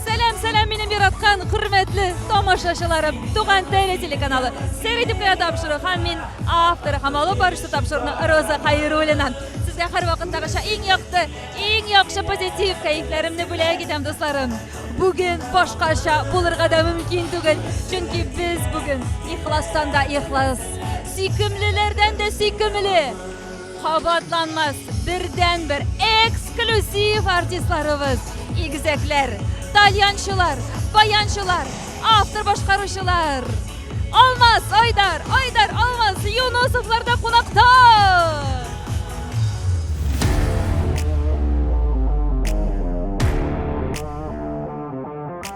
Сәлам, сәлам, минем яраткан, хөрмәтле тамашачыларым. Туган теле телеканалы. Сәр итеп кенә тапшыру һәм мин авторы һәм алып барышы тапшыруны Роза Хайруллина. Сезгә һәр вакыттагыча иң якты, иң яхшы позитив кәефләремне бүләк итәм, дусларым. Бүген башкача булырга да мөмкин түгел, чөнки без бүген ихластан да ихлас, сөйкемлеләрдән дә сөйкемле, Кабатланмас бердәнбер эксклюзив артистларыбыз, игезәкләр, тальянчылар, баянчылар, автор башкаручылар. Алмаз, Айдар, Айдар, Алмаз, Юнусовлар да кунакта!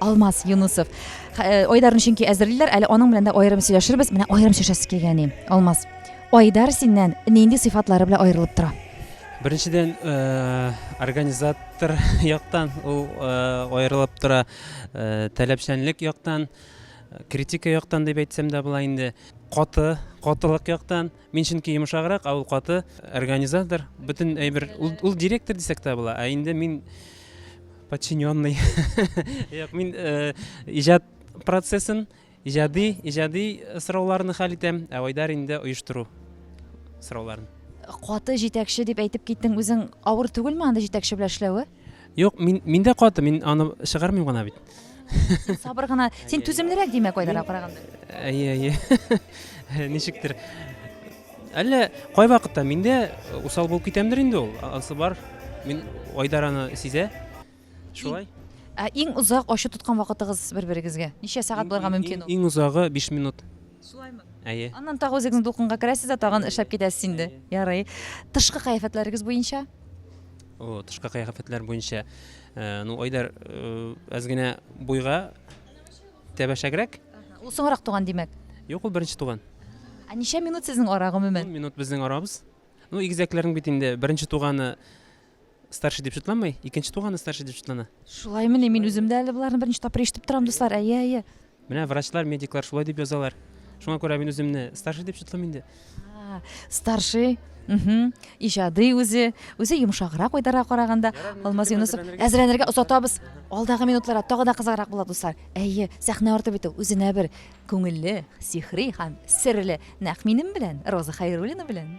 Алмаз Юнусов. Айдарны чөнки әзерлиләр, әле аның белән дә аерым сөйләшербез. Менә аерым сөйләшәсе килгәни. Алмаз. Айдар синнән нинди сыйфатлары белән аерылып тора? Беренчедән, э, организатор яктан ул э, аерылып тора, э, таләпчәнлек яктан, критика яктан дип әйтсәм дә була инде. Каты, катылык яктан. Мин чөнки йомшаграк, ә ул каты организатор. Бөтен әйбер ул директор дисәк тә була, ә инде мин подчиненный. Як мин э, иҗат процессын, иҗади, иҗади сорауларны хәл итәм, ә Айдар инде оештыру сорауларын. Каты җитәкче дип әйтеп киттең, үзең авыр түгелме анда җитәкче белән эшләве? Юк, мин, мин дә каты, мин аны чыгармыйм гына бит. Син сабыр гына, син түземлерәк димәк Айдарга караганда. Әйе, әйе. Ничектер. Әллә кай вакытта мин дә усал булып китәмдер инде ул. Анысы бар. Мин Айдар аны сизә. Шулай. Ә иң озак ачу тоткан вакытыгыз бер-берегезгә? Ничә сәгать булырга мөмкин ул? Иң озагы 5 минут. Сулаймы? Әйе. Аннан тагы үзегез дулкынга керәсез дә тагын эшләп китәсез инде. Ярый. Тышкы кыяфәтләрегез буенча? О, тышкы кыяфәтләр буенча. Э, ну, Айдар, э, әз генә буйга тәбәшәгрәк. Ул соңрак туган димәк. Юк, ул беренче туган. Ә ничә минут сезнең ара гомумән? Минут безнең арабыз. Ну, игезәкләрнең бит инде беренче туганы Старший дип шутланмый, икенче туганы старший дип шутлана. Шулаймыни, мин үзем дә әле боларны беренче тапкыр ишетеп торам, дуслар. Әйе, әйе. Менә врачлар, медиклар шулай дип язалар. Шуңа күрә мин үземне старший дип шутлыйм инде. Старший иҗади үзе үзе йомшаграк уйдара караганда алмаз юнысов әзерләнергә озатабыз алдагы минутларда тагы да кызыграк була дуслар әйе сәхнә арты бит үзенә бер күңелле сихри һәм серле нәкъ минем белән роза хәйруллина белән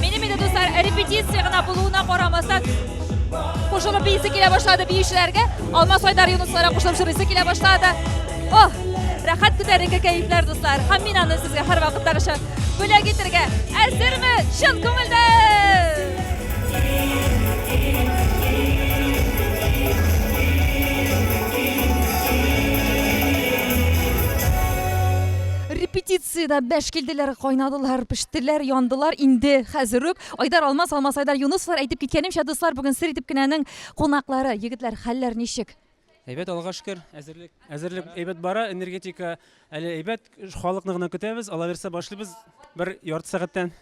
Минем инде дуслар репетиция гына булуына карамастан кушылып бийсе килә башлады биючеләргә. Алмас Айдар Юнусларга кушылып җырлыйсы килә башлады. О, рәхәт күтәренке кәефләр дуслар. Һәм мин аны сезгә һәрвакыттагыча Бүләк итергә әзерме чын күңелдән? репетициядә бәш килделәр, кайнадылар, пештеләр, яндылар инде хәзер үк. Айдар Алмаз, Алмаз Айдар Юнусовлар әйтеп киткәнемчә, дуслар, бүген сер итеп кенәнең кунаклары. Егетләр, хәлләр ничек? Әйбәт, Аллага шөкер, әзерлек, әзерлек әйбәт бара, энергетика әле әйбәт, халыкны гына көтәбез, алаверса башлыйбыз бер ярты сәгатьтән.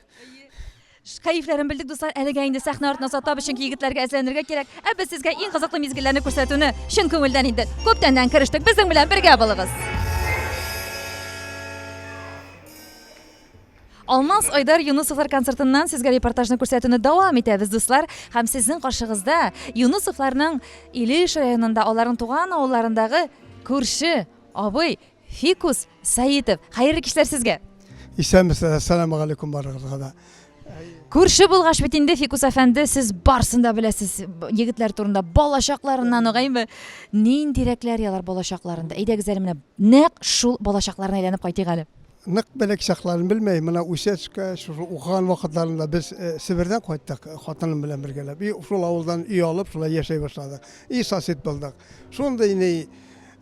Кәефләрен белдек, дуслар, әлегә инде сәхнә артына сатабыз, чөнки егетләргә әзерләнергә кирәк. Ә без сезгә иң кызыклы мизгелләрне күрсәтүне чын күңелдән инде күптәннән керештек. Безнең белән бергә булыгыз. Алмаз, Айдар, Юнысовлар концертыннан сезгә репортажны күрсәтүне дәвам итәбез, дуслар. Һәм сезнең каршыгызда Юнысовларның Илеш районында, аларның туган авылларындагы күрше абый Фикус Саитов. Хәерле кичләр сезгә. Исәнмесез, ассаламу алейкум барыгызга да. Күрше булгач бит инде Фикус әфәнде, сез барсын да беләсез егетләр турында, балачакларыннан ук, әйме? Ниндирәкләр ялар балачакларында? Әйдәгез әле менә нәкъ шул балачакларына әйләнеп кайтыйк әле. нык белек чакларын белмәй, менә үсәчкә, шушы укыган вакытларында без э, Себердән кайттык, э, хатыным белән бергәләп. И шул авылдан өй алып, шулай яшәй башладык. И сосед булдык. Шундый ни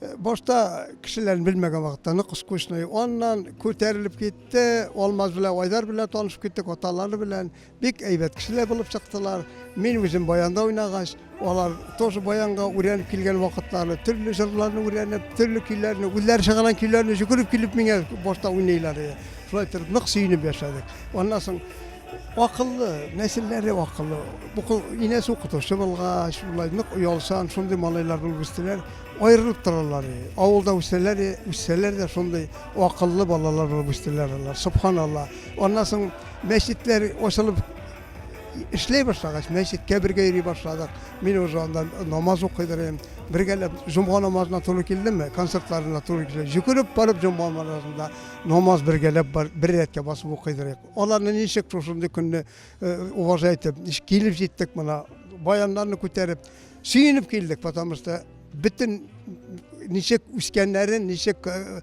э, башта кешеләрен белмәгән вакытта нык скучный. Аннан күтәрелеп китте, Алмаз белән Айдар белән танышып киттек, аталары белән. Бик әйбәт кешеләр булып чыктылар. Мин үзем баянда уйнагач, алар тоже баянга үрәнеп килгән вакытлары, төрле җырларны үрәнеп, төрле көйләрне, үзләре чыгарган көйләрне жүгереп килеп миңа башта уйныйлар иде. Шулай итеп нык сөенеп яшәдек. Аннан соң акыллы, нәселләре акыллы. Бу инәсе укытучы булгач, шулай нык оялсан, шундый малайлар булып үстеләр. Аерылып торалар. Авылда үсәләр, үссәләр дә шундый акыллы балалар булып үстеләр алар. Субханалла. Аннан соң Мәчетләр ачылып эшләй башлагач, мәчеткә бергә йөри башладык. Мин уже анда намаз укыдырым. Бергәләп җомга намазына туры килдемме, концертларына туры килде. Җөкереп барып җомга намазында намаз бергәләп бар, бер рәткә басып укыдырык. Аларны ничек шушындый көнне э, уважать итеп, ничек килеп җиттек мына, баяннарны күтәреп, сөенеп килдек, потому что бөтен ничек үскәннәрен, ничек э,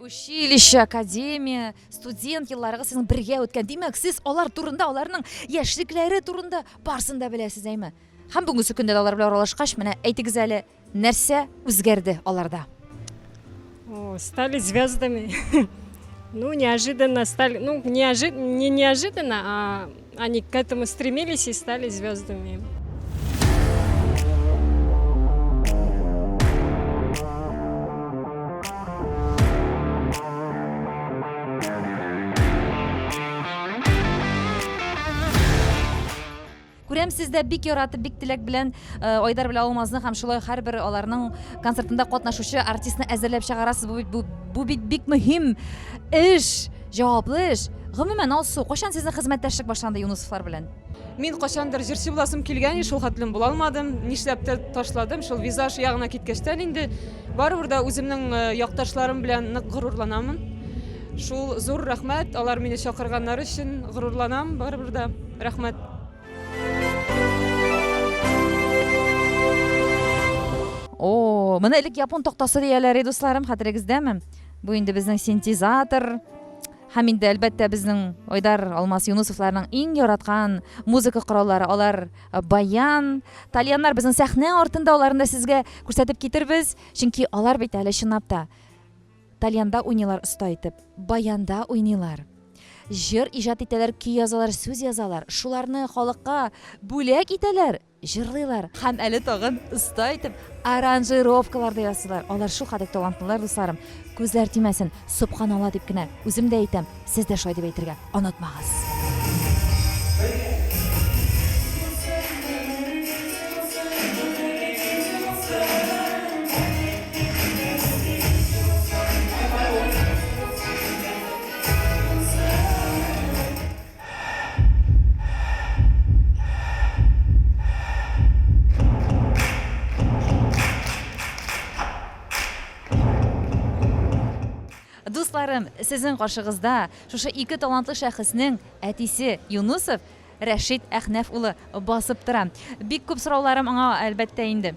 училище академия студент елларыгыз сезнең бергә үткән димәк сез алар турында аларның яшьлекләре турында барысын да беләсез әйме һәм бүгенге көндә дә алар белән аралашкач менә әйтегез әле нәрсә үзгәрде аларда О, стали звездами ну неожиданно стали ну неожиданно не неожиданно а Они к этому стремились и стали звездами. Күрәм сездә бик яратып, бик теләк белән э, Айдар белән Алмазны һәм шулай һәрбер аларның концертында катнашучы артистны әзерләп чыгарасыз. Бу бит бу бит бик мөһим эш. Җаваплы эш! Гомумән, Алсу, кайчан сезнең хезмәттәшлек башланды Юнысовлар белән? Мин кайчандыр җырчы буласым килгән иде, шул хәтлем була алмадым. Нишләптер ташладым, шул визаж ягына киткәчтән инде. Барыбер дә үземнең э, якташларым белән нык горурланамын. Шул зур рәхмәт, алар мине чакырганнары өчен горурланам, барыбер дә рәхмәт. О, моны элек япон тактасы дияләр иде, дусларым, хәтерегездәме? Бу инде безнең синтезатор һәм инде әлбәттә безнең Айдар Алмас Юнусовларның иң яраткан музыка кораллары алар э, баян. Тальяннар безнең сәхнә артында аларны да сезгә күрсәтеп китербез, чөнки алар бит әле чынлап та тальянда уйныйлар оста итеп, баянда уйныйлар. Җыр иҗат итәләр, көй язалар, сүз язалар, шуларны халыкка бүләк итәләр. Җырлыйлар. Һәм әле тагын оста итеп аранжировкалар да ясыйлар. Алар шулкадәр талантлылар, дусларым. Күзләр тимәсен, собханалла дип кенә үзем дә әйтәм, сез дә шулай дип әйтергә онытмагыз. Дусларым, сезнең каршыгызда шушы ике талантлы шәхеснең әтисе Юнусов Рәшит Әхнәф улы басып тора. Бик күп сорауларым аңа әлбәттә инде.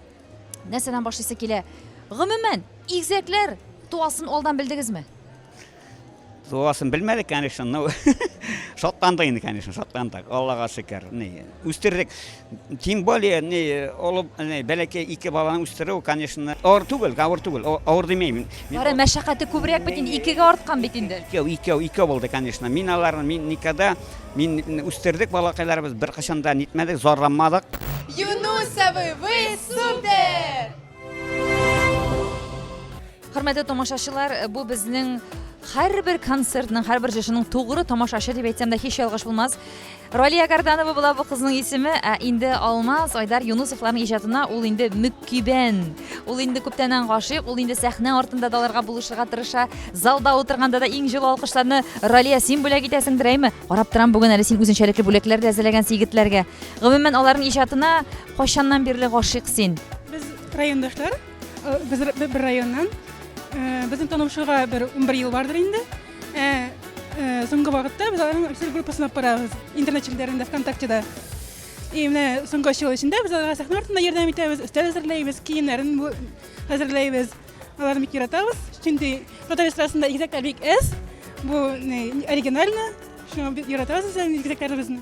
Нәрсәдән башлыйсы килә? Гомумән, игзәкләр туасын алдан белдегезме? Дуласын белмәдек, конечно, но шатландык инде, конечно, шатландык. Аллага шөкер. Ни, үстердек. Тем более, ни, олы, ни, бәләкәй ике баланы үстерү, конечно, авыр түгел, авыр түгел. О- Авыр димәймен. Мин Бары мәшәкате күбрәк бит инде, икегә арткан бит инде. Икәү, икәү, икәү булды, конечно. Мин аларны, мин никогда, мин үстердек балакайларыбыз, бер кашан да нитмәдек, зарланмадык. Юнусовы, вы супер! Хөрмәтле тамашачылар, э, бу безнең һәрбер концертның, һәрбер җырчының тугры тамашачы дип әйтсәм дә һич ялгыш булмас. Ралия Карданова була бу кызның исеме, ә инде Алмаз Айдар Юнусовларның иҗатына ул инде мөккибән. Ул инде күптәннән гашыйк, ул инде сәхнә артында даларга булышырга тырыша. Залда утырганда да иң җылы алкышларны Ралия син бүләк итәсең дирәйме? Карап торам бүген әле син үзенчәлекле бүләкләр дә әзерләгән егетләргә. Гомумән аларның иҗатына кайчаннан бирле гашыйк син? Без райондашлар. Э, без бер районнан э, безнең танышуга бер унбер ел бардыр инде э, соңгы вакытта без аларның официаль группасын алып барабыз интернет челтәрендә вконтактеда и менә соңгы өч ел эчендә без аларга сәхнә артында ярдәм итәбез өстәл әзерләйбез киемнәрен әзерләйбез аларны бик яратабыз чөнки татар эстрадасында игезәкләр бик әз бу оригинально шуңа бик яратабыз үзебезнең игезәкләребезне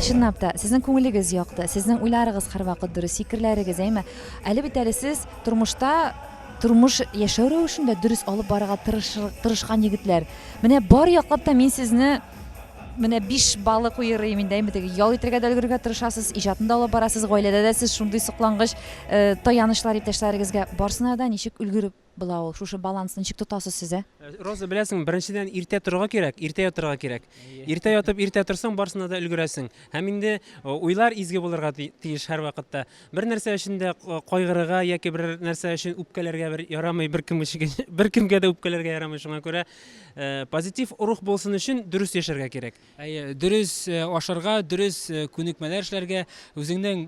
Чынлап та, сезнең күңелегез якты, сезнең уйларыгыз һәрвакыт дөрес, фикерләрегез, әйме? Әле бит әле сез тормышта тормыш яшәү рәвешен дә дөрес алып барырга тырышкан егетләр. Менә бар яклап та мин сезне менә биш баллы куерыйм инде әйме теге ял итәргә дә өлгерергә тырышасыз иҗатын да алып барасыз гаиләдә дә сез шундый соклангыч э, таянычлар иптәшләрегезгә барсына да ничек өлгереп була ул. Шушы баланс ничек тотасыз сез, ә? Роза, беләсеңме, беренчедән иртә торырга кирәк, иртә ятырга кирәк. Иртә ятып, иртә торсаң, барсына да өлгерәсең. Һәм инде уйлар изге булырга тиеш һәрвакытта. Бер нәрсә өчен дә кайгырырга яки бер нәрсә өчен үпкәләргә бер ярамый, беркем өчен, беркемгә дә үпкәләргә ярамый. Шуңа күрә позитив рух булсын өчен дөрес яшәргә кирәк. Әйе, дөрес ашарга, дөрес күнекмәләр эшләргә, үзеңнең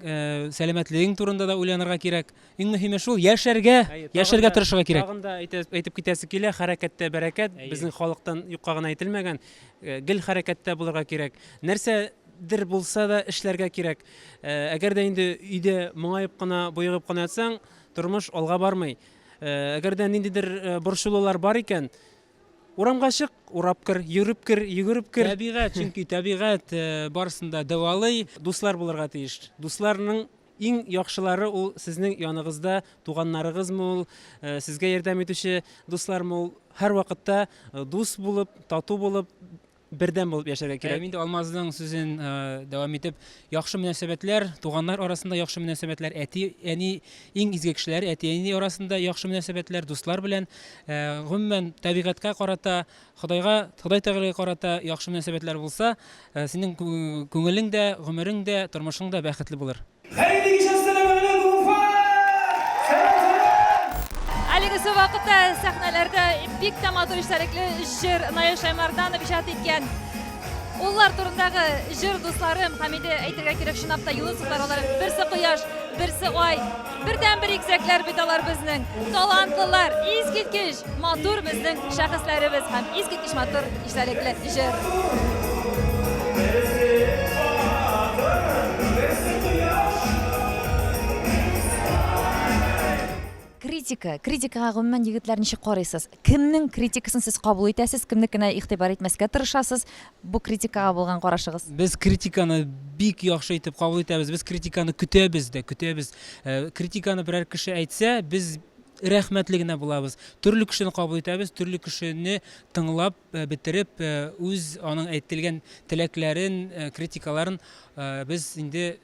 сәламәтлегең турында да уйланырга кирәк. Иң мөһиме шул, яшәргә, яшәргә тырышырга кирәк. Тагын да әйтеп китәсе килә, хәрәкәттә бәрәкәт, безнең халыктан юкка гына әйтелмәгән, э, гел хәрәкәттә булырга кирәк. Нәрсә дер булса да эшләргә кирәк. Э, әгәр дә инде өйдә моңаеп кына, боегып кына ятсаң, тормыш алга бармый. Э, әгәр дә ниндидер борчылулар бар икән, урамга чык, урап кер, йөреп кер, йөгереп кер. Табигать, чөнки табигать барсын да дәвалый, дуслар булырга тиеш. Дусларның Иң яхшылары ул сезнең яныгызда, туганнарыгызмы ул, сезгә ярдәм итүче дуслармы ул, һәрвакытта дус булып, тату булып, бердәм булып яшәргә кирәк. Ә инде Алмазның сүзен дәвам итеп, яхшы мөнәсәбәтләр, туганнар арасында яхшы мөнәсәбәтләр, әти, әни иң изге кешеләр, әти, әни арасында яхшы мөнәсәбәтләр, дуслар белән, гомумән, табигатькә карата Ходайга, Ходай Тәгаләгә карата яхшы мөнәсәбәтләр булса, синең күңелең дә, гомерең дә, тормышың да бәхетле булыр. Хәерле кич, әссәламәгәләйкүм, Уфа! Сәлам, сәлам! Әлегесе вакытта сәхнәләрдә бик тә матур эчтәлекле җыр Наил Шаймарданов иҗат иткән Уллар турындагы җыр, дусларым, һәм инде әйтергә кирәк, чынлап та, Юнысовлар алар, берсе кояш, берсе ай. Бердәнбер игезәкләр бит алар безнең. Талантлылар, искиткеч матур безнең шәхесләребез һәм искиткеч матур истәлекле җыр. Критика, критикага гомумән егетләр ничек карыйсыз? Кемнең критикасын сез кабул итәсез, кемнекенә игътибар итмәскә тырышасыз? Бу критикага булган карашыгыз? Без критиканы бик яхшы итеп кабул итәбез. Без критиканы көтәбез дә, көтәбез. Э, критиканы берәр кеше әйтсә, без рәхмәтле генә булабыз. Төрле кешене кабул итәбез, төрле кешене тыңлап э, бетереп, э, үз аның әйтелгән теләкләрен, критикаларын без инде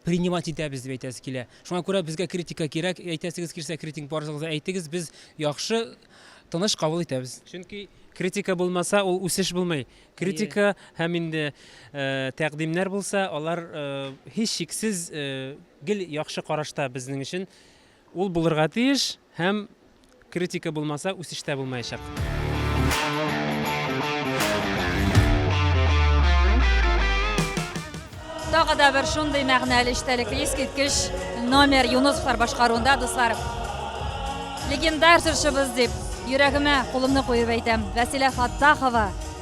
принимать итәбез дип әйтәсе килә. Шуңа күрә безгә критика кирәк. Әйтәсегез килсә, критик барыгызга әйтегез, без яхшы, тыныч кабул итәбез. Чөнки критика булмаса, ул үсеш булмый. Критика һәм инде э, тәкъдимнәр булса, алар э, һич шиксез э, гел яхшы карашта безнең өчен. Ул булырга тиеш һәм Критика булмаса, үсеш тә булмаячак. Тагы да бер шундый мәгънәле эчтәлекле искиткеч номер Юнусовлар башкаруында, дуслар. Легендар җырчыбыз дип, йөрәгемә кулымны куеп әйтәм. Вәсилә Фаттахова,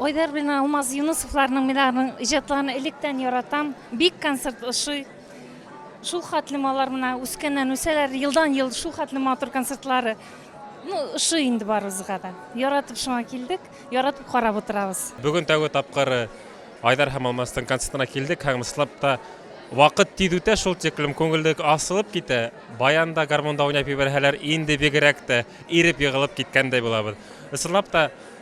Айдар белән Алмаз Юнысовларның мин аларның иҗатларын электән яратам. Бик концерт ошый. Шул хәтле алар менә үскәннән үсәләр, елдан-ел шул хәтле матур концертлары. Ну, ошый инде барыбызга да. Яратып шуңа килдек, яратып карап утырабыз. Бүген тәүге тапкыр Айдар һәм Алмазның концертына килдек һәм слап та вакыт тиз үтә шул тиклем, күңеллек асылып китә. Баян да гармунда уйнап ебәрһәләр, инде бигрәк тә иреп егылып киткәндәй булабыз. Ысынлап та,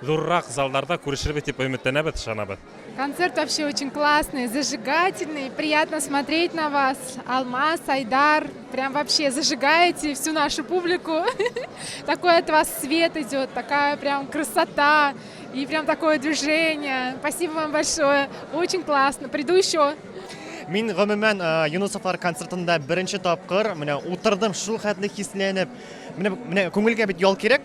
Зуррак залларда күрешербез дип өметләнәбез, ышанабыз. Концерт вообще очень классный, зажигательный, приятно смотреть на вас, Алмаз, Айдар, прям вообще зажигаете всю нашу публику, такой от вас свет идет, такая прям красота и прям такое движение, спасибо вам большое, очень классно, приду еще. Мин гомумән э, Юнусовлар концертында беренче тапкыр менә утырдым, шул хәтле хисләнеп. Менә менә күңелгә бит ял кирәк.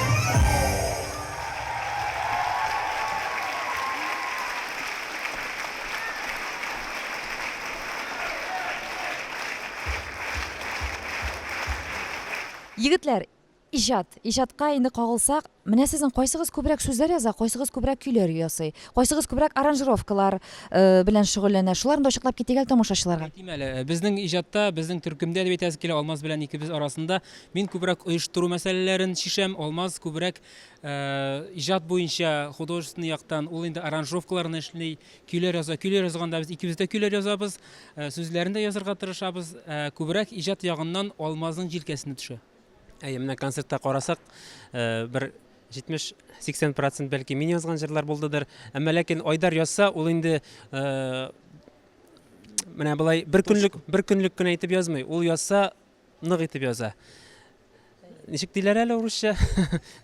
Егетләр, иҗат. Иҗатка инде кагылсак, менә сезнең кайсыгыз күбрәк сүзләр яза, кайсыгыз күбрәк көйләр ясый, кайсыгыз күбрәк аранжировкалар э, белән шөгыльләнә. Шуларны да ачыклап китик әле тамашачыларга. Әйтим әле, э, безнең иҗатта, безнең төркемдә дип әйтәсе килә, Алмаз белән икебез арасында Мин күбрәк оештыру мәсьәләләрен чишәм. Алмаз күбрәк иҗат буенча художественный яктан ул инде аранжировкаларны эшли, көйләр яза. Көйләр язганда без икебез дә көйләр язабыз, сүзләрен дә язарга тырышабыз. Күбрәк иҗат ягыннан Алмазның җилкәсенә төшә. Әйе, менә концертта карасак, бер 70-80 процент бәлки мин язган җырлар булдыдыр. Әмма ләкин Айдар язса, ул инде менә болай бер көнлек бер көнлек кенә итеп язмый. Ул язса, Нык итеп яза. Ничек диләр әле урысча?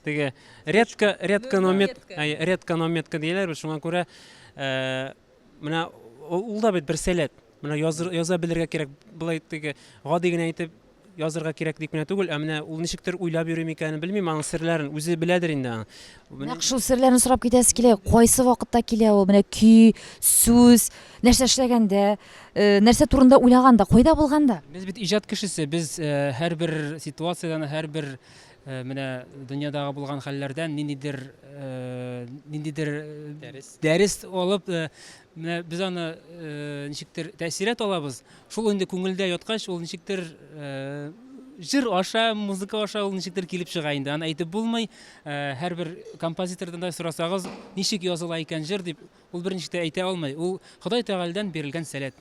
Теге редко, редко но метко, әй, редко но метко диләр, бит, шуңа күрә э, менә ул ул да бит бер сәләт. Менә языр, яза белергә кирәк, былай теге гади генә итеп язырга кирәк дип кенә түгел, ә менә ул ничектер уйлап йөри микәнен белмим, аның серләрен үзе беләдер инде аның. Нәкъ шул серләрне сорап китәсе килә. Кайсы вакытта килә ул? Менә көй, сүз, нәрсә эшләгәндә, э, нәрсә турында уйлаганда, кайда булганда? Без бит иҗат кешесе, без э, һәрбер ситуациядән, һәрбер э, менә дөньядагы булган хәлләрдән ниндидер э, ниндидер э, дәрес алып, э, менә без аны э, ничектер тәэсират алабыз. Шул инде күңелдә яткач, ул ничектер җыр аша, музыка аша ул ничектер килеп чыга инде. Аны әйтеп булмый. Һәрбер композитордан да сорасагыз, ничек языла икән җыр дип, ул берничек тә әйтә алмый. Ул Ходай Тәгаләдән бирелгән сәләт.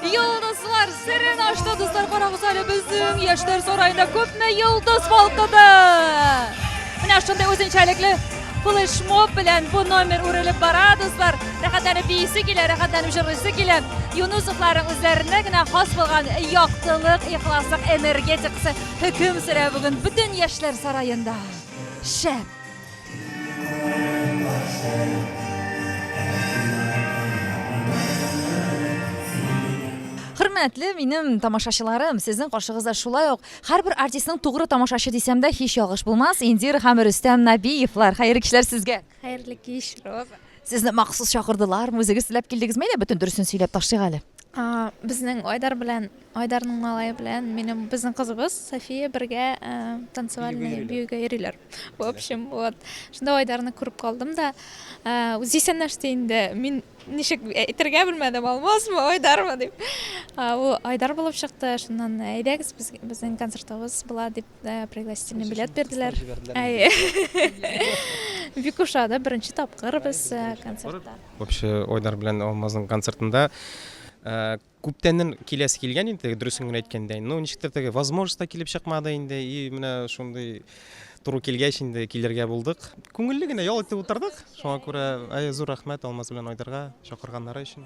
Йолдызлар серен ашты, дуслар, карагыз әле безнең яшьләр сараенда күпме йолдыз балкыды. Менә шундый үзенчәлекле флешмоб белән бу номер үрелеп бара, дуслар. Рәхәтләнеп биисе килә, рәхәтләнеп җырлыйсы килә. Юнусовларның үзләренә генә хас булган яктылык, ихласлык, энергетикасы хөкем сөрә бүген бөтен яшьләр сараенда. Шәп! Хөрмәтле минем тамашачыларым, сезнең каршыгызда шулай ук һәрбер артистның тугры тамашачы дисәм дә һич ялгыш булмас, Индира һәм Рөстәм Набиевлар. Хәерле кичләр сезгә. Хәерле кич, Роза. Сезне махсус чакырдылармы, үзегез теләп килдегезме, әллә бөтен дөресен сөйләп ташлыйк әле? А, безнең Айдар белән, Айдарның малае белән минем безнең кызыбыз София бергә э, танцевальный биюгә йөриләр. В общем, вот, шунда Айдарны күреп калдым да, ә, үзе исәнләште инде. Мин ничек әйтергә белмәдем, Алмазмы, Айдармы дип. А, Ул Айдар булып чыкты. Шуннан әйдәгез без, безнең концертыбыз була дип ә, пригласительный билет бирделәр. Әйе. Бик ошады, беренче тапкыр без ә, концертта. Вообще Айдар белән Алмазның концертында э, Күптәннән киләсе килгән иде теге, дөресен генә әйткәндә. Но ничектер теге возможность та килеп чыкмады инде. И менә шундый туры килгәч инде килергә булдык. Күңелле генә ял итеп утырдык. Шуңа күрә әй, зур рәхмәт Алмаз белән Айдарга чакырганнары өчен.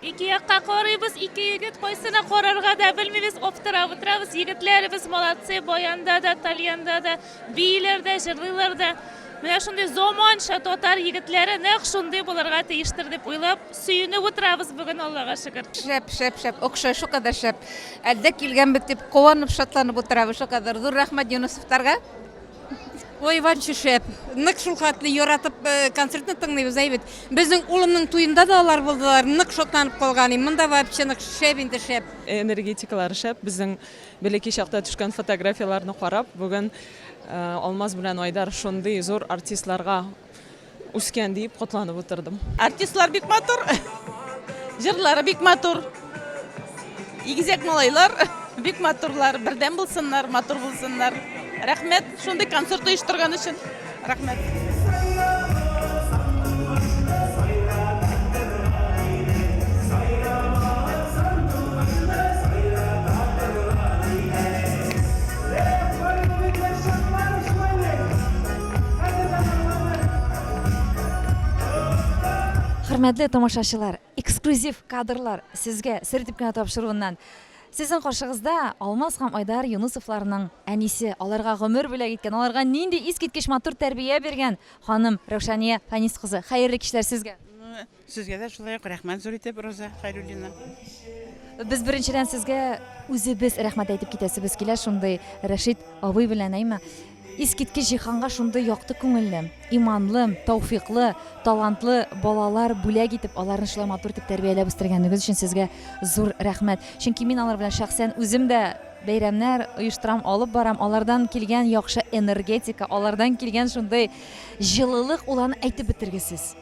Ике якка карыйбыз, ике егет кайсына карарга да белмибез, аптырап утырабыз. Егетләребез молодцы, баянда да, тальянда да, бииләр дә, җырлыйлар да. Менә шундый заманча татар егетләре нәкъ шундый булырга тиештер дип уйлап, сөенеп утырабыз бүген, Аллага шөкер. Шәп, шәп, шәп, охшай, шукадәр шәп. Әлдә килгәнбез дип куанып, шатланып утырабыз, шукадәр. Зур рәхмәт Юнысовтарга. Ой, ванчы шәп. Нык шул хәтле яратып э, концертны тыңлыйбыз, әйбәт. Безнең улымның туенда да алар булдылар, нык шатланып калган. Монда вообще нык шәп инде шәп. Энергетикалары шәп. Безнең бәләкәй чакта төшкән фотографияләрне карап, бүген э, Алмаз белән Айдар шундый зур артистларга Үскән диеп котланып утырдым. Артистлар бик матур. Җырлары бик матур. Игезәк малайлар бик матурлар. Бердәм булсыннар, матур булсыннар. Рәхмәт, шундый концерт оештырган өчен. Рәхмәт. Хөрмәтле тамашачылар, эксклюзив кадрлар сезгә сер дип кенә тапшыруыннан. Сезнең каршыгызда Алмаз һәм Айдар Юнусовларның әнисе, аларга гомер бүләк иткән, аларга нинди искиткеч матур тәрбия биргән ханым Рәүшания Фанис кызы. Хәерле кичләр сезгә! Сезгә дә шулай ук рәхмәт зур итеп, Роза Хәйруллина. Без беренчедән сезгә үзебез рәхмәт әйтеп китәсебез килә, шундый Рәшит абый белән, әйме? Искиткеч җиһанга шундый якты күңелле, иманлы, тауфиклы, талантлы балалар бүләк итеп, аларны шулай матур итеп тәрбияләп үстергәнегез өчен сезгә зур рәхмәт. Чөнки мин алар белән шәхсән үзем дә бәйрәмнәр оештырам, алып барам, алардан килгән яхшы энергетика, алардан килгән шундый җылылык, ул аны әйтеп бетергесез.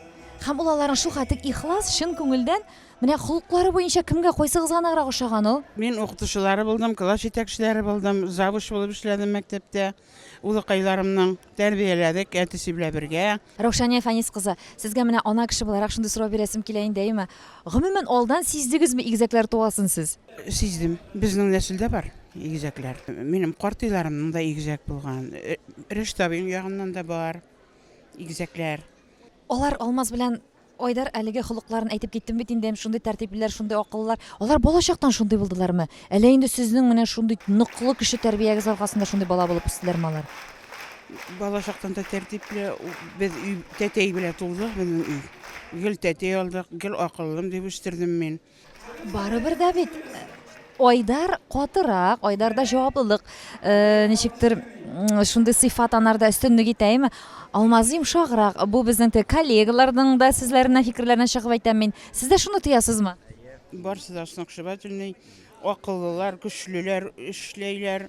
Һәм ул аларның шулкадәр ихлас, чын күңелдән, менә холыклары буенча кемгә кайсыгыз ганыграк ошаган ул? Мин укытучылары булдым, класс җитәкчеләре булдым, завуч булып эшләдем мәктәптә. Улыкайларымның тәрбияләдек, әтисе белән бергә. Раушания Фәнис кызы, сезгә менә ана кеше буларак шундый сорау бирәсем килә инде, әйеме? Гомумән алдан сиздегезме игезәкләр туасын сез? Сиздем. Безнең нәселдә бар игезәкләр. Минем картыйларымның да игезәк булган. Рәшит абыйның ягыннан да бар игезәкләр. Алар Алмаз белән Айдар әлеге холыкларын әйтеп киттем бит инде, шундый тәртиплеләр, шундый акыллылар. Алар балачактан шундый булдылармы? Әллә инде сезнең менә шундый ныклы кеше тәрбиягез аркасында шундый бала булып үстеләрме алар? Балачактан да тәртипле, без өй тәтәй белән тудык, безнең өй. Гел тәтәй алдык, гел акыллым дип үстердем мин. Барыбер дә бит Айдар катырак, Айдарда җаваплылык, э, ничектер шундый сыйфат анарда өстенлек итәме? Алмаз йомшаграк. Бу безнең тә коллегаларның да сүзләренә, фикерләренә чыгып әйтәм мин. Сез дә шуны тоясызмы? Барсы да сногсшибательный. Акыллылар, көчлеләр, эшләйләр.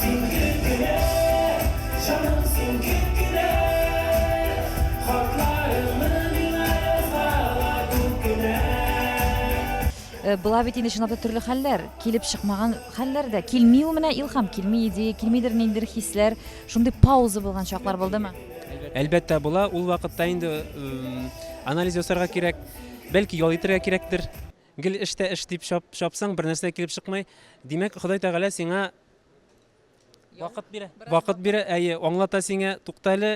Син гел генә, җаным, син гел генә, Хатларыңны миңа язалар күп кенә. Була бит инде чынлап та төрле хәлләр, килеп чыкмаган хәлләр дә. Килми ул менә илһам, килми идея, килмидер ниндидер хисләр. Шундый пауза булган чаклар булдымы? Әлбәттә була, ул вакытта инде анализ ясарга кирәк, бәлки ял итәргә кирәктер. Гел эш тә эш дип чапсаң, бернәрсә килеп чыкмый. Димәк, Ходай Тәгалә сиңа вакыт бирә. Вакыт бирә, әйе, аңлата сиңа, тукта әле,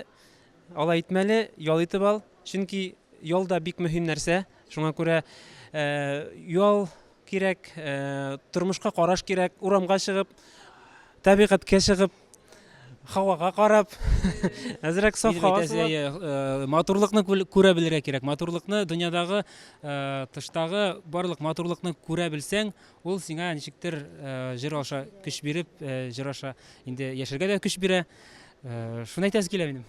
алай итмәле, ял итеп ал. Чөнки ял да бик мөһим нәрсә. Шуңа күрә ял кирәк, тормышка караш кирәк, урамга чыгып, табигатькә чыгып, һавага карап әзрәк саф һава э, матурлыкны күрә белергә кирәк матурлыкны дөньядагы э, тыштагы барлык матурлыкны күрә белсәң ул сиңа ничектер э, җыр аша көч биреп җыр аша инде яшәргә дә көч бирә шуны әйтәсе килә минем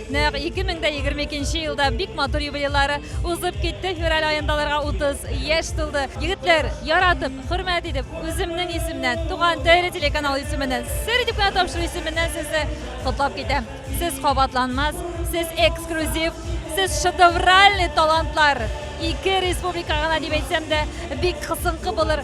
Нәкъ 2022 елда бик матур юбилейлары узып китте. Февраль аенда аларга 30 яшь тулды. Егетләр, яратып, хөрмәт итеп, үземнең исемнән, Туган тәре телеканалы исеменнән, Сер итеп кенә тапшыру исеменнән сезне котлап китәм. Сез кабатланмас, сез эксклюзив, сез шедевральный талантлар! Ике республика гына дип әйтсәм дә бик кысынкы булыр.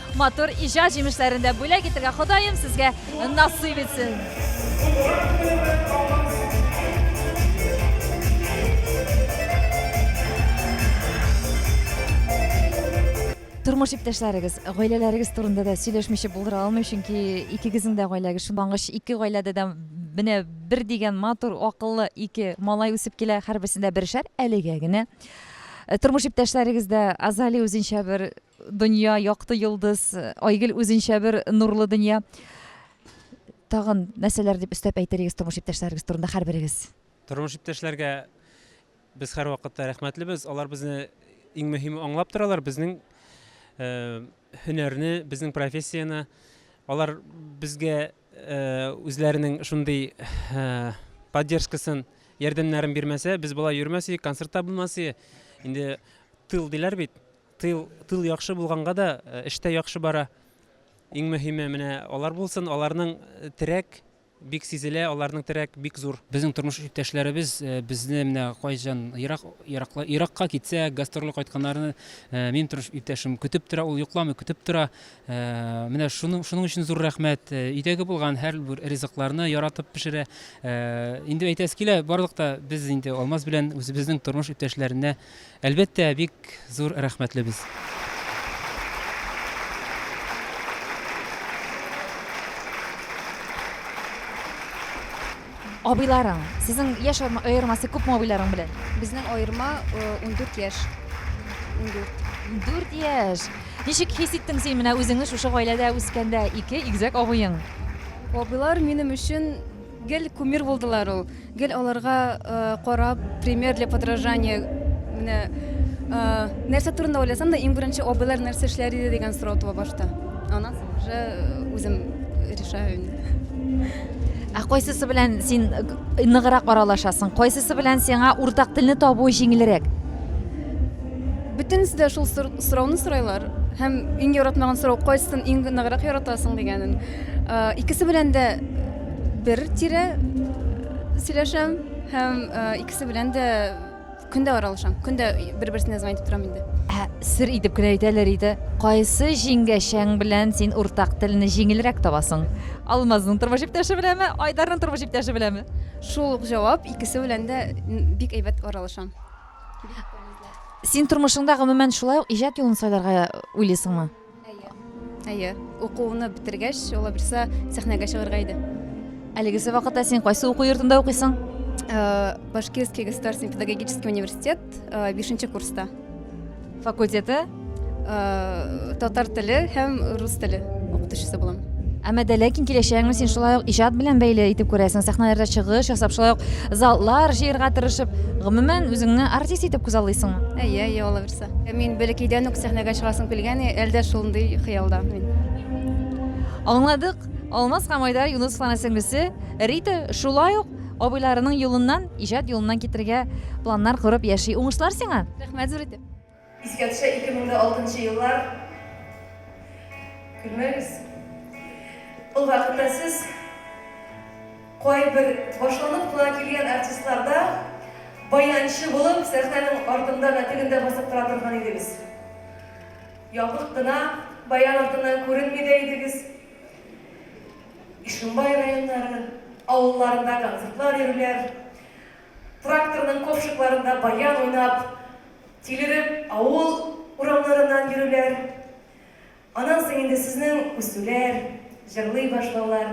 Матур иҗат җимешләрен дә бүләк итергә Ходаем сезгә насыйп итсен. Тормыш иптәшләрегез, гаиләләрегез турында да сөйләшмичә булдыра алмыйм, чөнки икегезнең дә гаиләгез шунлангыч, ике гаиләдә дә менә бер дигән матур, акыллы ике малай үсеп килә, һәрберсендә бершәр әлегә генә. Э, Тормыш иптәшләрегез дә Азали үзенчә бер Дөнья, якты йолдыз, Айгөл үзенчә бер нурлы дөнья. Тагын нәрсәләр дип өстәп әйтерегез тормыш иптәшләрегез турында һәрберегез? Тормыш иптәшләргә без һәрвакытта рәхмәтлебез. Алар безне иң мөһиме аңлап торалар, безнең э, һөнәрне, безнең профессияне. Алар безгә э, үзләренең шундый э, поддержкасын, ярдәмнәрен бирмәсә, без болай йөрмәс идек, концертта булмас идек. Инде тыл диләр бит. Тыл, тыл яхшы булганга да эштә яхшы бара. Иң мөһиме менә алар булсын, аларның терәк бик сизелә, аларның терәк бик зур. Безнең тормыш иптәшләребез э, безне менә кайчан ерак еракла еракка китсә, гастрольгә кайтканнарны э, минем тормыш иптәшем көтеп тора, ул йокламый көтеп тора. Э, менә шуның шуның өчен зур рәхмәт. Өйдәге булган һәрбер ризыкларны яратып пешерә. Инде әйтәсе килә, барлыкта без инде Алмаз белән үзебезнең тормыш иптәшләренә Әлбәттә, бик зур рәхмәтлебез. Абыйларың, сезнең яшь аермасы күпме абыйларың белән? Безнең аерма 14 яшь. 14. 14 яшь. Ничек хис иттең син менә үзеңне шушы гаиләдә үскәндә ике игезәк абыең? Абыйлар минем өчен гел кумир булдылар ул. Гел аларга карап, пример для подражания. Менә нәрсә турында уйласам да, иң беренче абыйлар нәрсә эшләр иде дигән сорау туа башта. Аннан соң уже үзем решаю инде. Ә кайсысы белән син э, ныграк аралашасың? Кайсысы белән сиңа уртак телне табу җиңелрәк? Бөтенесе дә шул сорауны сорайлар. Һәм иң яратмаган сорау кайсысын иң ныграк яратасың дигәнен. Икесе белән дә бер тирә сөйләшәм һәм икесе белән дә көн дә аралашам. Көн дә бер-берсенә звонить итеп торам инде. Ә сер итеп кенә әйтәләр иде. Кайсы җиңгәшәң белән син уртак телне җиңелрәк табасың? Алмазның тормыш иптәше беләме, Айдарның тормыш иптәше беләме? Шул ук җавап, икесе белән дә бик әйбәт аралашам. Син тормышыңда гомумән шулай ук иҗат юлын сайларга уйлыйсыңмы? Әйе. Әйе. Укуны бетергәч, ул берсе сәхнәгә чыгарга иде. Әлеге вакытта син кайсы уку йортында укыйсың? Э, Башкирский государственный педагогический университет 5 э, курста. Факультеты? Э, татар теле һәм рус теле укытучысы булам. Әмма дә ләкин киләчәгеңне син шулай ук иҗат белән бәйле итеп күрәсең. Сәхнәләрдә чыгыш ясап, шулай ук заллар җыярга тырышып, гомумән үзеңне артист итеп күзаллыйсыңмы? Әйе, әйе, алабыз. чыкты. Мин бәләкәйдән үк сәхнәгә чыгасым килгән, әле дә шундый хыялда мин. Аңладык, Алмаз һәм Айдар Юнысовларның сеңлесе Рита шулай ук абыйларының юлыннан, иҗат юлыннан китәргә планнар корып яши. Уңышлар сиңа! Рәхмәт зур итеп! Искә төшә 2006 нчы еллар. Көлмәгез. Ул вакытта сез. Кайбер башланып кына килгән артистлар да баянчы булып сәхнәнең артында да, тегендә басып тора торган идегез. Ябык кына баян артыннан күренми дә идегез. Ишембай районнары авылларында концертлар йөриләр. Тракторның копшыкларында баян уйнап, тилереп авыл урамнарыннан йөриләр. Аннан соң инде сезнең үсүләр, җырлый башлаулар,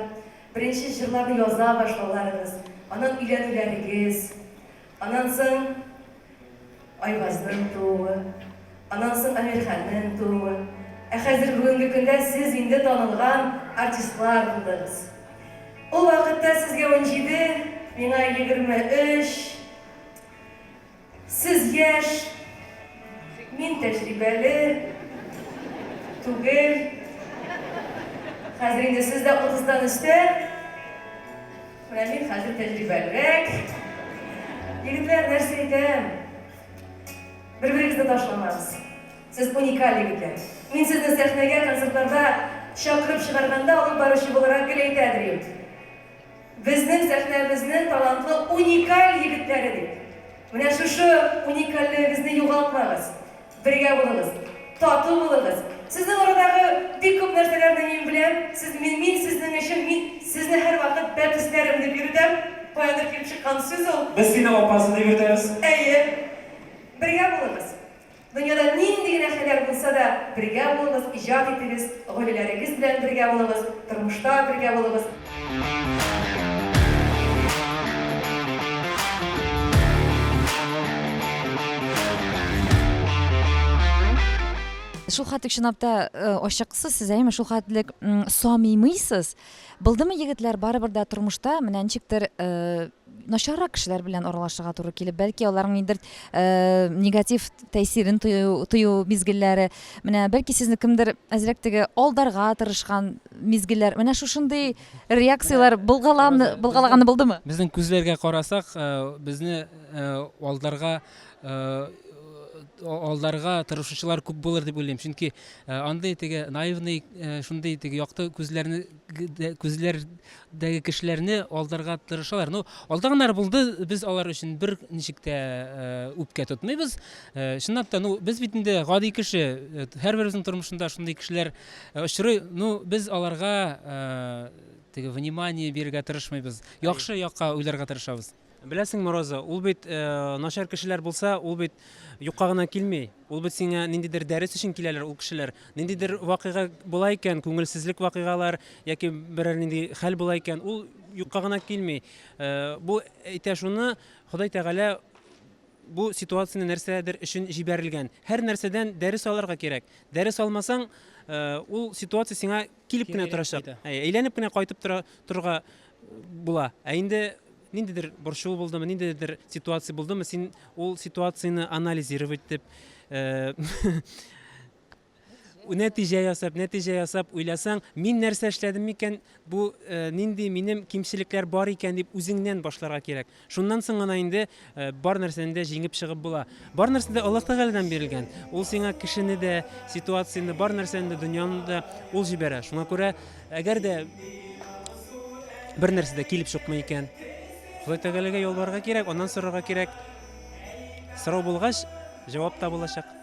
беренче җырларны яза башлауларыгыз, аннан өйләнүләрегез, аннан соң Айвазның тууы, аннан соң Әмирханның тууы. Ә хәзер бүгенге көндә сез инде танылган артистлар булдыгыз. Ул вакытта сезгә унҗиде, миңа егерме өч. Сез яшь, мин тәҗрибәле түгел. Хәзер инде сез дә утыздан өстә. Менә мин хәзер тәҗрибәлерәк. Егетләр, нәрсә әйтәм? Бер-берегезне ташламагыз. Сез уникаль егетләр. Мин сезне сәхнәгә, концертларда чакырып чыгарганда, алып баручы буларак гел әйтә дер идем. Безнең сәхнәбезне талантлы уникаль егетләре бит. Менә шушы уникальлегегезне югалтмагыз. Бергә булыгыз. Тату булыгыз. Сезнең арадагы бик күп нәрсәләрне мин беләм. Сез, мин, мин сезнең өчен, мин сезне һәрвакыт бәпесләрем дип йөртәм. Каяндыр килеп чыккан сүз ул. Без сине апасы дип йөртәбез. Әйе. Бергә булыгыз. Дөньяда нинди генә хәлләр булса да, бергә булыгыз, иҗат итегез, гаиләләрегез белән бергә булыгыз, тормышта бергә булыгыз. Шул хәтлек чынлапта ачыксыз сез әйеме, шул хәтлек самимыйсыз. Булдымы егетләр, барыбер дә тормышта менә ничектер начаррак кешеләр белән аралашырга туры килеп, бәлки аларның ниндидер э, негатив тәэсирен тою, тою мизгелләре, менә бәлки сезне кемдер әзрәк теге алдарга тырышкан мизгелләр, менә шушындый реакцияләр булгалан булгалаганы булдымы? Безнең күзләргә карасак, э, безне э, алдарга алдарга тырышучылар күп булыр дип уйлыйм чөнки андый теге наивный шундый теге якты күзләрне күзләр дәге кешеләрне алдарга тырышалар. Ну, алданнар булды, без алар өчен бер ничек тә э, үпкә тотмыйбыз. Э, чынлап та, ну, без бит инде гади кеше, э, һәрберебезнең тормышында шундый кешеләр э, очрый. Ну, без аларга э, теге внимание бирергә тырышмыйбыз. Яхшы якка уйларга тырышабыз. Беләсеңме, Роза, ул бит начар кешеләр булса, ул бит юкка гына килми. Ул бит сиңа ниндидер дәрес өчен киләләр ул кешеләр. Ниндидер вакыйга була икән, күңелсезлек вакыйгалар яки берәр нинди хәл була икән, ул юкка гына килми. Бу әйтә шуны, Ходай Тәгалә бу ситуацияне нәрсәдер өчен җибәрелгән. Һәр нәрсәдән дәрес алырга кирәк. Дәрес алмасаң, ул ситуация сиңа килеп кенә торачак. Әйләнеп кенә кайтып тора торырга була. Ә инде ниндидер борчылу булдымы, ниндидер ситуация булдымы, син ул ситуацияне анализировать итеп, э, нәтиҗә ясап, нәтиҗә ясап уйласаң, мин нәрсә эшләдем микән, бу э, нинди минем кимчелекләр бар икән дип үзеңнән башларга кирәк. Шуннан соң гына инде бар нәрсәне дә җиңеп чыгып була. Бар нәрсә дә Аллаһ Тәгаләдән бирелгән. Ул сиңа кешене дә, ситуацияне, бар нәрсәне дә, дөньяны да ул җибәрә. Шуңа күрә, әгәр дә бер нәрсә дә килеп чыкмый икән, Ходай Тәгаләгә ялварырга кирәк, аннан сорарга кирәк. Сорау булгач, җавап табылачак.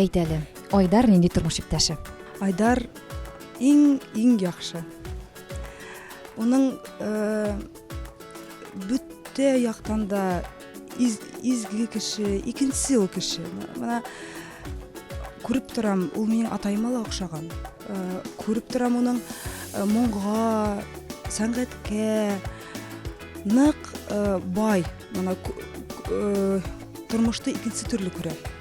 Әйт әле, Айдар нинди тормыш иптәше? Айдар иң иң яхшы. Уның э, бүтә яктан да из, изге кеше, икенче ул кеше. Менә күреп торам, ул минем атайыма ла охшаган. Э, күреп торам уның э, моңга, сәнгатькә нык э, бай. Менә э, тормышты икенче төрле күрә.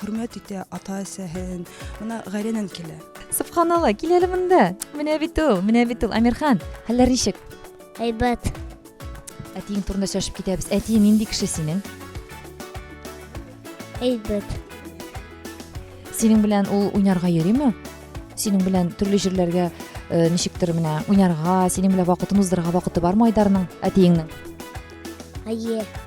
хөрмәт итә ата әсәһен мына гаиләнен килә субханалла кил әле монда менә бит ул менә бит ул әмирхан хәлләр ничек әйбәт әтиең турында сөйләшеп китәбез әтиең нинди кеше синең әйбәт синең белән ул уйнарга йөриме синең белән төрле җирләргә э, ничектер менә уйнарга синең белән вакытын уздырырга вакыты бармы айдарның әтиеңнең әйе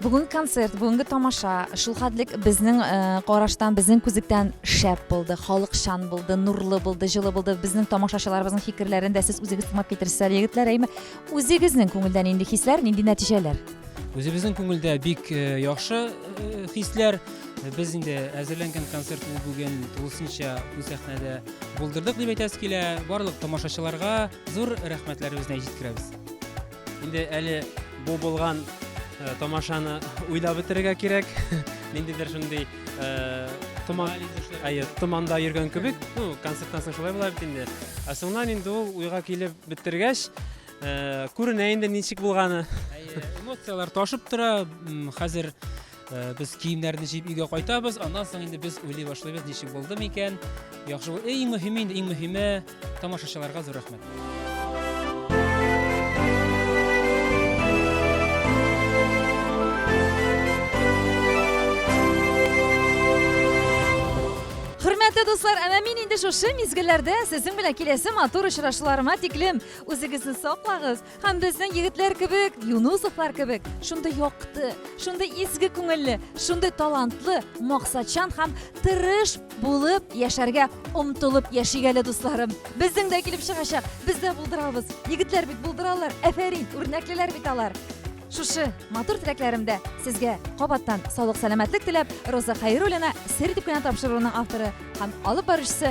Бүгенге концерт, бүгенге тамаша шулхәтлек безнең э, караштан, безнең күзлектән шәп булды, халыкчан булды, нурлы булды, җылы булды. Безнең тамашачыларыбызның фикерләрен дә сез үзегез тыңлап китерсез әле, егетләр, әйме? Үзегезнең күңелдән инде хисләр, нинди нәтиҗәләр? Үзебезнең күңелдә бик э, яхшы э, хисләр. Без инде әзерләнгән концертны бүген тулысынча бу сәхнәдә булдырдык дип әйтәсе килә. Барлык тамашачыларга зур рәхмәтләребезне җиткерәбез. Инде әле бу булган э, тамашаны уйлап бетерергә кирәк. Ниндидер шундый э, томан, әйе, томанда йөргән кебек. Ну, концерттан соң шулай була бит инде. Ә соңнан инде ул уйга килеп бетергәч, э, күренә инде ничек булганы. Әйе, эмоцияләр ташып тора. М, Хәзер Э, без киемнәрне җыеп өйгә кайтабыз аннан соң инде без уйлый башлыйбыз ничек булды микән яхшы бул иң мөһиме инде иң мөһиме тамашачыларга зур рәхмәт Хөрмәтле дуслар, әмә мин инде шушы мизгелләрдә сезнең белән киләсе матур очрашуларыма тиклем үзегезне саклагыз, Һәм безнең егетләр кебек, Юнусовлар кебек, шундый якты, шундый изге күңелле, шундый талантлы, максатчан һәм тырыш булып яшәргә омтылып яшик әле, дусларым. Безнең дә килеп чыгачак, без дә булдырабыз. Егетләр бит булдыралар, әфәрин, үрнәклеләр бит алар. Шушы матур теләкләремдә сезгә кабаттан саулык-сәламәтлек теләп, Роза Хәйруллина сер дип кенә тапшыруының авторы һәм алып баручысы